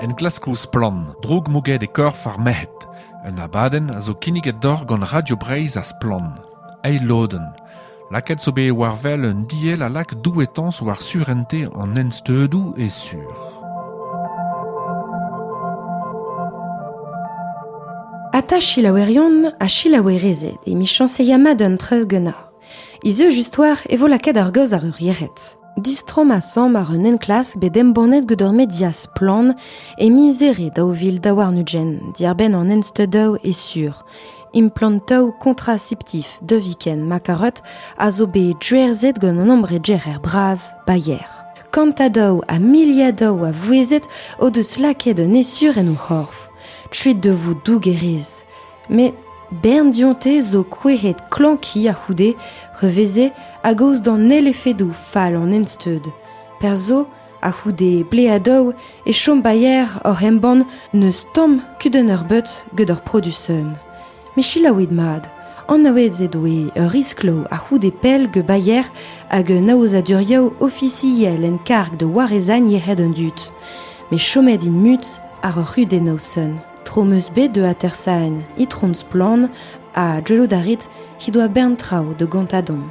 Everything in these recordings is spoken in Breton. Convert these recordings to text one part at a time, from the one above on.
Enklaskoù Splann! droug mouget e korf ar merc'hed. Un abadenn a zo kinniget deoc'h gant Radio Breizh ha Splann! Eil lodenn. Lakaet zo bet war wel un diell a lak douetañs war surente an ensteudoù e sur. Ata selaouerion ha selaouerezed emichañs e yama d'un treugenañ. Izujust oar e vo lakaet ar gaoz àr ur yec'hed. Distromm asambl àr un enklask bet embannet gant ur media splann e miz Here daou vil daou warn-ugent, diàr-benn an ensteudaoù e sur. Implantoù kontraseptif Deviken Makarot a zo bet drerzet gant an ambregerer bras Bayer. Kantadoù ha miliadoù a vouezhet o deus lakaet un esur en o c'horf. Tuit de vous dougerez. Met bern dionte zo kouezhet klañki a-c'houde re veze a-gaoz d'an holl efedoù fall an ensteud. Perzh zo, a-c'houde bleadoù, e chom bailler oc'h embann n'eus tamm kudenn eurbeut gant ur produsenn. Met selaouit mat, anaouet ez doe ur riskloù a-c'houde pell gant bailler hag un aozadurioù ofisiel en karg da warezagn yec'hed an dud. Met chomet int mut àr ur c'hudenn noson. Tro 'm eus bet da atersaén Itron Splann ha gellout a rit he doa bern traoù da gontañ deomp.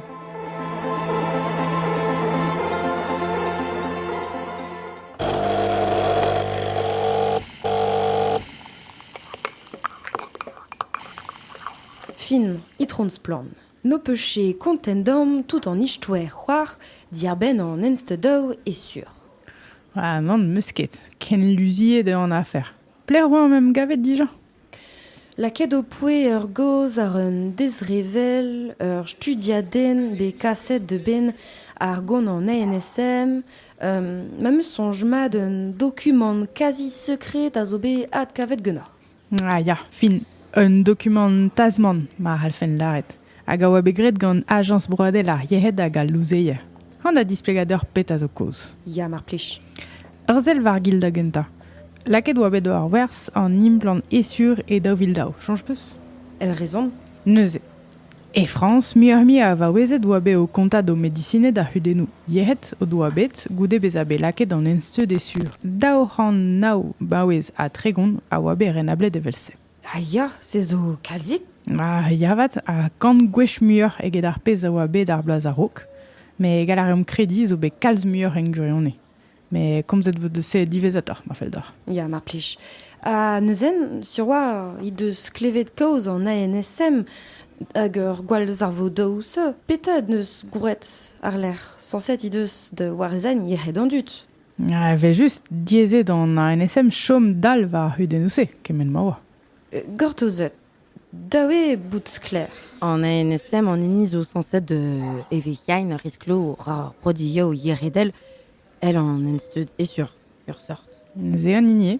Fin, Itron Splann. N'ho peus ket kontent deomp tout an istoer c'hoar diarbenn an enstedaoù e sur. Ha nann, 'm eus ket. Ken luziet eo an afer. Pelec'h oa am em gavet dija? Lakaet ho poe ur gaoz àr un dezrevell, ur studiadenn bet kaset a-benn ar gonant ANSM. Ma 'm eus soñj mat un dokumant kazi sekred a zo bet adkavet ganeoc'h. Ah ya, fin. Un dokumant tazmant, ma c'hallfen lâret. hag a oa bet graet gant Ajañs broadel ar yec'hed hag al louzeier. An a displegadur pet a zo kaoz. Ya, mar plij. Ur sell war-gil da gentañ. Lakaet oa bet war werz an implant esur e daou vil daou, soñj peus? El rezon? Neuze. E Frañs, muioc'h-mui a vaouezed oa bet o kontañ d'o medisined ar c'hudennoù yec'hed o doa bet goude bezañ bet lakaet an ensteud esur. Daou c'hant nav baouez ha tregont a oa bet renablet evel-se. Ha ya, se zo kalzik. Ah, ya avat, ha kant gwech muioc'h eget ar pezh a oa bet ar bloaz a-raok. Mais gall a reomp krediñ zo bet kalz muioc'h en gwirionez. Mais komzet vo deus se diwezhatoc'h, ma fell deoc'h. Ya, mar plij. Ha neuzen, sur oa he deus klevet kaoz an ANSM hag ur gwallzarvo daou se. Petra en deus gwraet àrlerc'h? Sañset he deus da warezañ yec'hed an dud. Evel-just, diaezet an ANSM chom dal war ar c'hudennoù-se, kement ma oa. Gortozet. Da eo bout sklaer, an ANSM an hini zo sañset e vec'hiain risklo ar produioù yeredel, el an ensteud esur, ur sort. Neuze an hini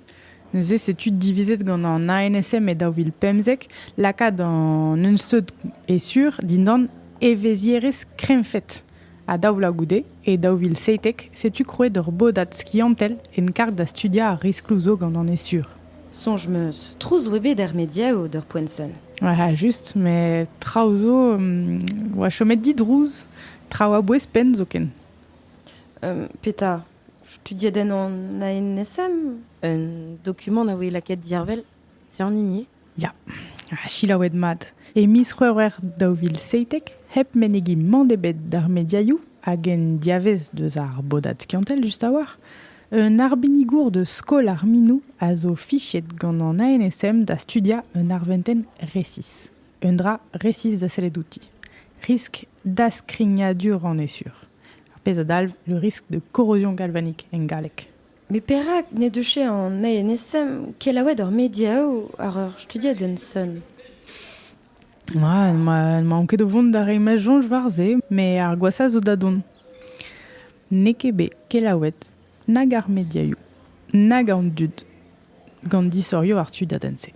Neuze setu divizet gant an ANSM e daou vil pemzek lakaat an ensteud esur dindan evezhierezh krennfed. Ha daou vloaz goude, e daou vil seitek, setu krouet ur bodad skiantel en karg da studiañ ar riskloù zo gant an esur. Soñj 'm eus trouz 'oa bet er mediaoù d'ur poent sonn. Ah, just, met traoù zo um, 'oa chomet didrouz, traoù a-bouez penn zoken. Um, petra? Studiet en an ANSM? Un dokumant a voe lakaet diarvel? C'est en hini Ya, selaouet mat. E miz C'hwevrer daou vil seitek, hep menegiñ mann ebet d'ar mediaioù hag en diavez deus ar bodad skiantel just a-walc'h, un arbenigour deus skol ar minoù a zo fichet gant an ANSM da studiañ un arventenn resis. Un dra resis da sellet outi. Risk daskrignadur an esur. Ar pezh a dalv le risque de corrosion galvanique en galleg. Met perak n'he deus an ANSM kelaouet ar mediaoù àr ur studiadenn sonn ? Ah, ma maon ket o vont da reiñ ma soñj war se, met ar gwashañ zo da dont. N'eo ket bet kelaouet nag ar mediaioù, nag an dud gant disorioù ar studiadenn-se.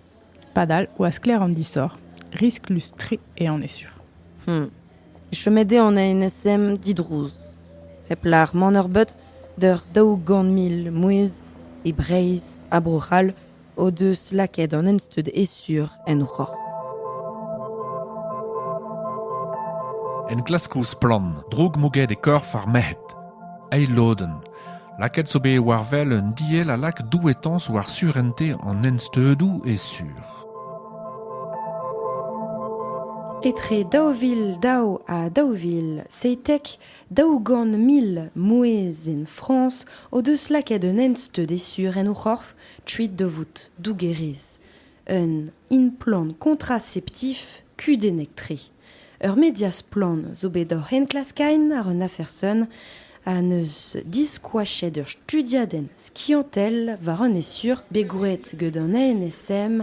Padal oa sklaer an disoc'h, risklus-tre eo an esur. Hmm. Chomet eo an ANSM didrouz, hep lar mann-eur-beut d'ur daou-gant mil mouezh e Breizh ha Bro-C'hall o deus lakaet an ensteud esur en o c'horf. Enklask ouzh splann, droug mouget e korf ar merc'hed. Eil lodenn, Lakaet zo bet war wel un diell a lak douetañs war surentez an ensteudoù e sur. Etre daou vil daou ha daou vil seitek daou-gant mil mouezh en Frañs o deus lakaet un ensteud e sur en o c'horf kuit da vout dougerez. Un implant kontraseptif kudennek-tre. Ur media splann zo bet oc'h enklaskaén àr un afer sonn ha neus diskoachet ur studiadenn skiantel war an esur bet gwraet get an NSM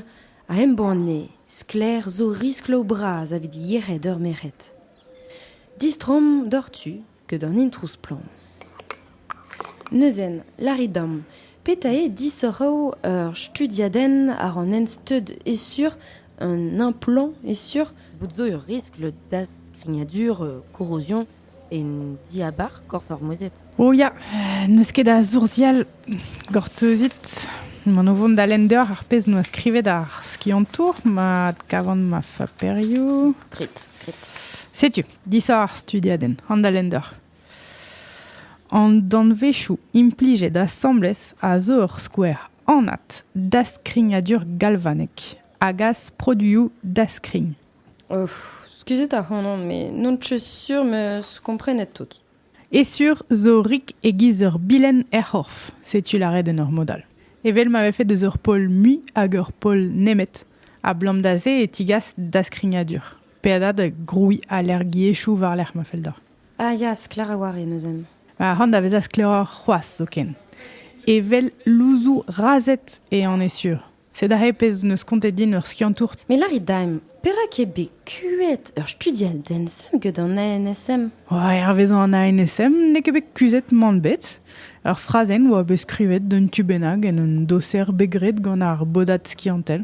a embanne sklaer zo riskloù bras evit yec'hed ur merc'hed. Distroomp doc'htu ket an introù splann. Neuzen, lârit deomp, petra eo disoc'h ur studiadenn àr an ensteud e-sur un implant e-sur? Bout zo ur riskl da skrignadur korrozion en diabarzh korf ur mouezhed. O ya, n'eus ket a soursial gortozit. Man o vont da lenn deoc'h ar pezh 'noa skrivet ar skiantour ma adkavan ma faperioù. Grit, grit. Setu. Disav ar studiadenn, Handalender. An danvezioù implijet asambles a zo ur skouer anat daskrignadur galvanek a gas produioù daskrign. Of, skuzit ac'hanon, me n'on ket sur meus komprenet tout. E sur zo rik e-giz ur bilenn er c'horf, setu lâret en ur mod all. Evel ma vefe deus ur pol mui hag ur pol nemet, ablam da se e tigas daskrignadur. Peadad grouiñ alergiezhioù war-lerc'h ma fell deoc'h. Ah ya, sklaer a-walc'h eo neuze. Ha c'hoant da vezañ sklaeroc'h c'hoazh zoken. Evel louzoù razhed eo on e sur. Sed aze pezh 'neus kontet din ur skiantour. Me lârit daemp, perak eo bet kuit ur studiad Denson get an ANSM? Hervezañ an ANSM n'eo ket bet kuzhet mann bet. Ur frazenn oa bet skrivet d'un tu bennak en un doser bet graet gant ar bodad skiantel.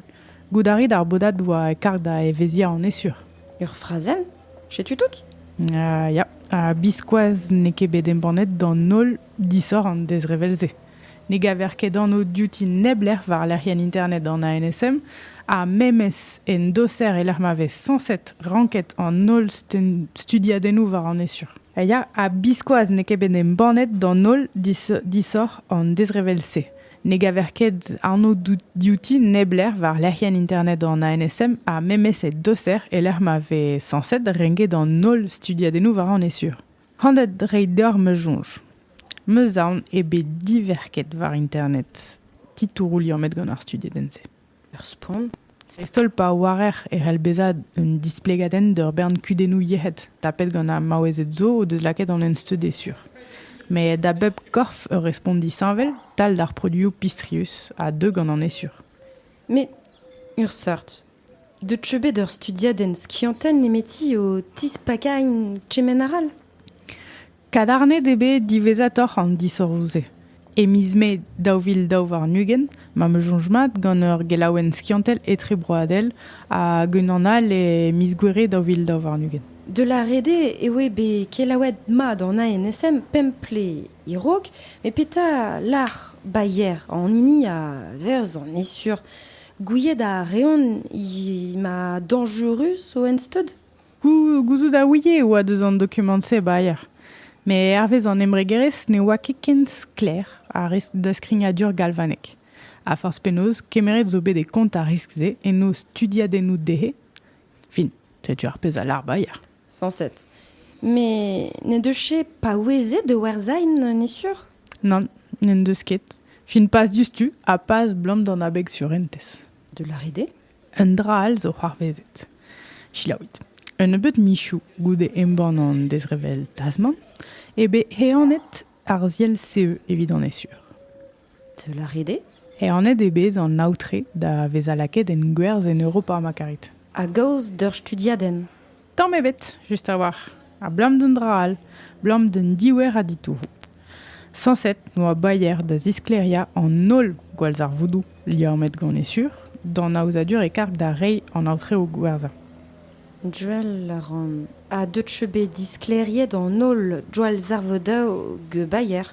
Goût a rit ar bodad oa karg da evezhiañ an esur. Ur frazenn? Setu tout? Uh, ya, ha biskoazh n'eo ket bet embannet d'an holl disoc'h an dezrevell-se. Ne gaver ket anv diouti neblec'h war lec'hienn internet an ANSM ha memes en doser e-lec'h ma vez sañset ranket an holl studiadennoù war an esur. Ya, ha biskoazh n'eo ket bet embannet d'an holl disoc'h an dezrevell-se. Ne gaver ket anv diouti neblec'h war lec'hienn internet an ANSM ha memes e doser e-lec'h ma vez sañset renket an holl studiadennoù war an esur. Handet reiñ deoc'h ma soñj. Meus aon eo bet diverket war internet titouroù liammet gant ar studiadenn-se. Ur spont, dreist-holl pa oarer e c'hell bezañ un displegadenn d'ur bern kudennoù yec'hed tapet gant ar maouezed zo o deus lakaet an ensteud e sur. Met da bep korf ur respont disheñvel, tal d'ar produioù pistrius, a deu gant an esur. Met ur seurt. Deut eo bet ur studiadenn skiantel nemeti o tispakañ kement arall ? Kadarnet eo bet diwezhatoc'h an disoc'hoù-se. E miz Mae daou vil daou warn-ugent m'am eus soñj mat gant ur gelaouenn skiantel etrebroadel hag unan all e miz Gouere daou vil daou warn-ugent. De La Rede eo eo bet kelaouet mat an ANSM pemp ple e-raok, met petra lâr Bayer an hini a verz an esur? Gouiet a reont he ma dañjurus o ensteud? Gouzout a ouie e oa deus an dokumant-se ba aer. Met hervez an embregerezh ne oa ket ken sklaer ar riskl daskignadur galvanek. Ha forzh penaos, kemeret zo bet e kont ar riskl-se en o studiadennoù dezhe. Fin, setu ar pezh a lâr Bayer. Sañset. Met n'en deus ket paouezet da werzhañ, n'est sur? Nann, n'en deus ket. Fin pas diouzhtu ha pas 'blam d'an abeg surentez. De la rider Un dra all zo c'hoarvezet. Selaouit. Un nebeud michoù goude embann an dezrevell Tasman eo bet ehanet ar ziell-CE evit an ESUR. Teul a rit eo? Ehanet eo bet an aotre da vezañ lakaet en gwerzh en Europa ma karit. A-gaoz d'ur studiadenn Tamm ebet, just a-walc'h. Abalamour d'an dra all, abalamour d'an diouer a ditouroù. Sañset oa Bayer da zisklêriañ an holl gwallzarvoudoù liammet gant e sur d'an aozadur e karg da reiñ an aotreoù gwerzhañ. Joel a ran. Ha deut cheu bet disklêriet an holl gwallzarvoudoù Bayer?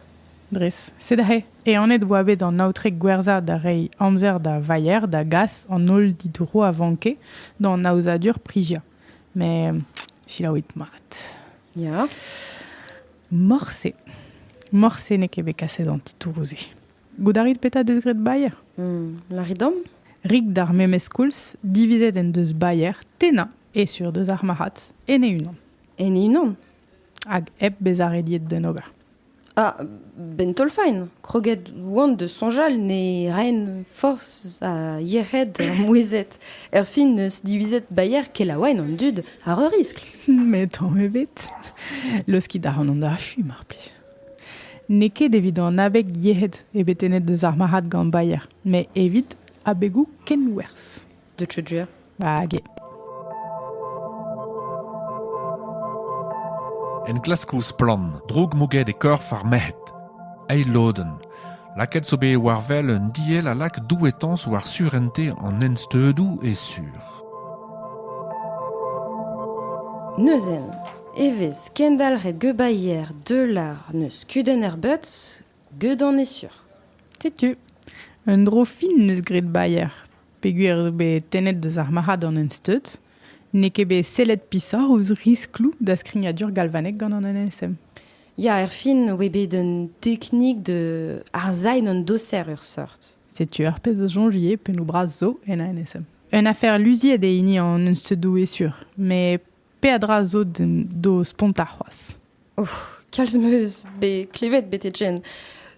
Dres. Sed aze Ehanet oa bet an aotre gwerzhañ da reiñ amzer da Vayer da gas an holl ditouroù a vanke d'an aozadur priziañ. Met selaouit mat. Ya. Morse. Morse n'eo ket bet kaset an titouroù-se. Goût a rit petra deus graet Bayer? Hmm, lârit dom? Rik d'ar memes koulz, divizet en deus Bayer tennañ e sur deus ar marc'had en e unan. En e unan? Hag hep bezañ rediet d'en ober. Ah, 'benn taol-faen, kroget oan da soñjal ne raen forzh ha yec'hed ar mouezhet, erfin 'neus divizet baeañ kelaouenn an dud àr ur riskl. Met tamm ebet. Laoskit a ran an achu, mar plij. N'eo ket evit an abeg yec'hed eo bet tennet deus ar marc'had gant baeañ, met evit abegoù kenwerzh. de Tudjer. Hag enklask ouzh splann, droug mouget e korf ar merc'hed. Eil lodenn. Lakaet zo bet war wel un diell a lak douetañs war surente an ensteudoù e sur. Neuzen, evez kendalc'het gebaier deular neus kudenn er beutz, gedan e sur. Setu, un dro fin neus graet baier. peogwir eo bet tennet deus ar marc'had an ensteud, n'eo ket bet sellet pishoc'h ouzh riskloù da skrignadur galvanek gant an NSM. Ya, erfin, oe bet un teknik de arzain an doser ur seurt. Setu ar pezh a soñjie pennoù bras zo en a NSM. Un afer luziet eo hini an ensteudoù e sur, met peadra zo d'o spontañ c'hoazh. Oh, kalz meus bet klevet bete Jen.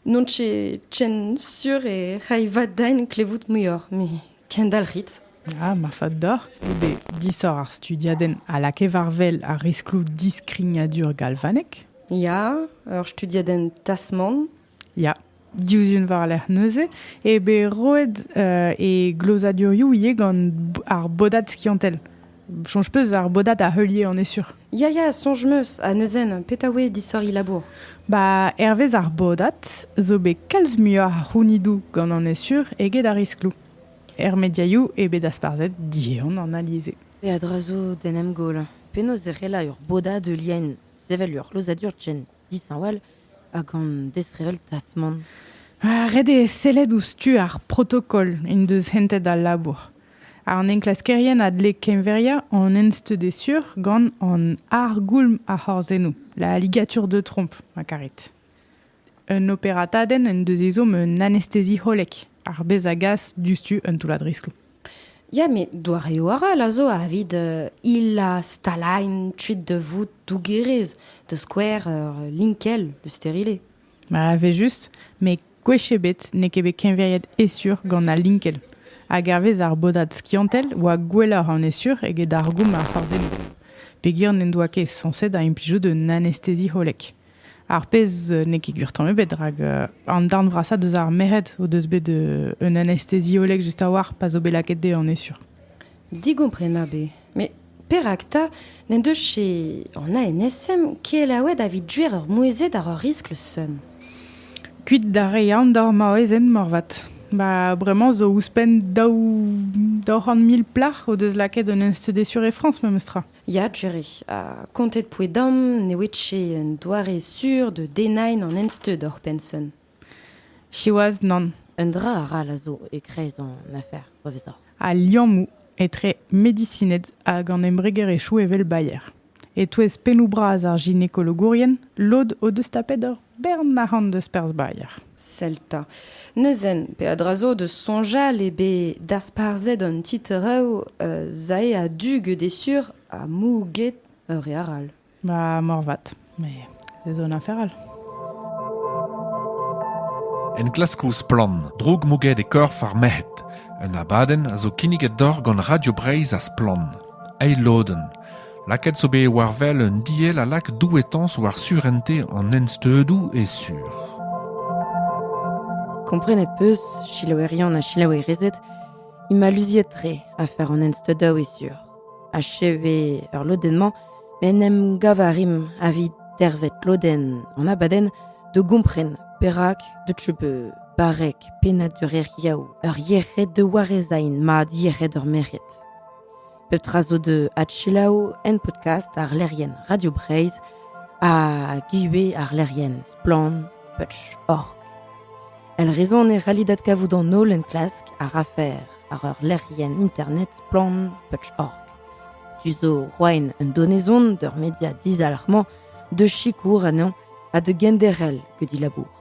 Non tse Jen sur e ray va dain klevout muioc'h, me kendalc'hit. Ah, marfat deoc'h goude disoc'h ar studiadenn a lakae war-wel ar riskloù diskrignadur galvanek. Ya, ur studiadenn Tasman Ya, diouzh un war-lerc'h neuze eo bet roet e glozadurioù ivez gant ar bodad skiantel. Soñj peus ar bodad a heulier, on est sûr. Ya, ya, soñj meus. Ha neuzen, petra oe disoriñ labour? Ba, hervez ar bodad zo bet kalz muioc'h a c'hounidoù gant an est sûr eget ar riskloù. Er mediaioù eo bet dasparzhet diehan an alise. E a-dra zo d'en em goll. Penaos e c'hellañ ur bodad heuliaén sevel ur glozadur ken dishañval hag an disheñvel tasmant. Ah, ret eo sellet ouzh tu ar protokol en deus hentet al labour. An enklaskerien a dle keñveriañ an ensteud sur gant an argoulm ar c'horzennoù, la ligatur de trompe, ma karit. Un operatadenn en deus ezhomm un anestezi hollek, ar bez a gas diouzhtu un toullad riskloù. Ya met doareoù arall a zo evit hilañ stalailh kuit da vout dougerez, da skouer ur linkell, le stérilé. Ma evel-just, met gwech ebet n'eo ket bet keñveriet Essure gant al linkell. Hag hervez ar bodad skiantel oa gwelloc'h an Essure eget ar goum a c'hoarzheno. Peogwir n'en doa ket sañset da implijout un anestezi hollek. Ar pezh n'eo ket gwir tamm ebet, rak an darn vrasañ deus ar merc'hed o deus bet un anestesiolleg just a-walc'h pa zo bet lakaet dezhe, on est sûr. Digomprenabl eo. Met perak 'ta n'en deus ket an ANSM kelaouet evit duer ur mouezhet àr ur riskl seum? Kuit da reiñ aon d'hor maouezed moarvat. Ba bremañ zo ouzhpenn daou c'hant mil plac'h o deus lakaet un anestesiolleg e Frañs memes tra. Ya, Jerry. Ha kontet poe dam ne oe ket un doare sur da dennañ an ensteud oc'h Penson. Siwazh, nann. Un dra arall a zo e-kreiz an afer, pa vezoc'h. Al liammoù etre medisined hag an embregerezhioù evel Bayer. E-touez pennoù bras ar ginekologourien, lod o deus tapet ur Bern arc'hant deus perzh Bayer. Sell 'ta. Neuzen, peadra zo deus soñjal eo bet dasparzhet an titrev euh, zae a-du gede sur ha mou get ur re arall. Ba morvat, mais ez on afer all. Enklask ouzh Splann, droug mouget e korf ar merc'hed. Un abadenn a zo kinniget doc'h gant Radio Breizh ha Splann. Eil lodenn. Lakaet zo bet war wel un diell a lak douetañs war surentez an ensteudoù e sur. Komprenet 'peus, selaouerion ha selaouerezed, int ma luziet-tre afer an ensteudañ e sur. Achev eo ur lodenn-mañ, met en em gav a rimp evit dervet lodenn an abadenn da gompren perak deuet je bet barrek pennad ur lec'hiaou ur yec'hed da warezain mat yec'hed ur merc'hed. Pep tra zo da adselaou en podcast ar lec'hienn Radio Breizh ha ivez ar lec'hienn Splann Putsch Org. El rezon e c'halli dat kavout an holl enklask ar afer ar ur lec'hienn internet Splann Putsch Org. Tu zo roaen un donezon d'ur media dizalc'hmañ de sikour anezhañ ha de genderel que dit labour.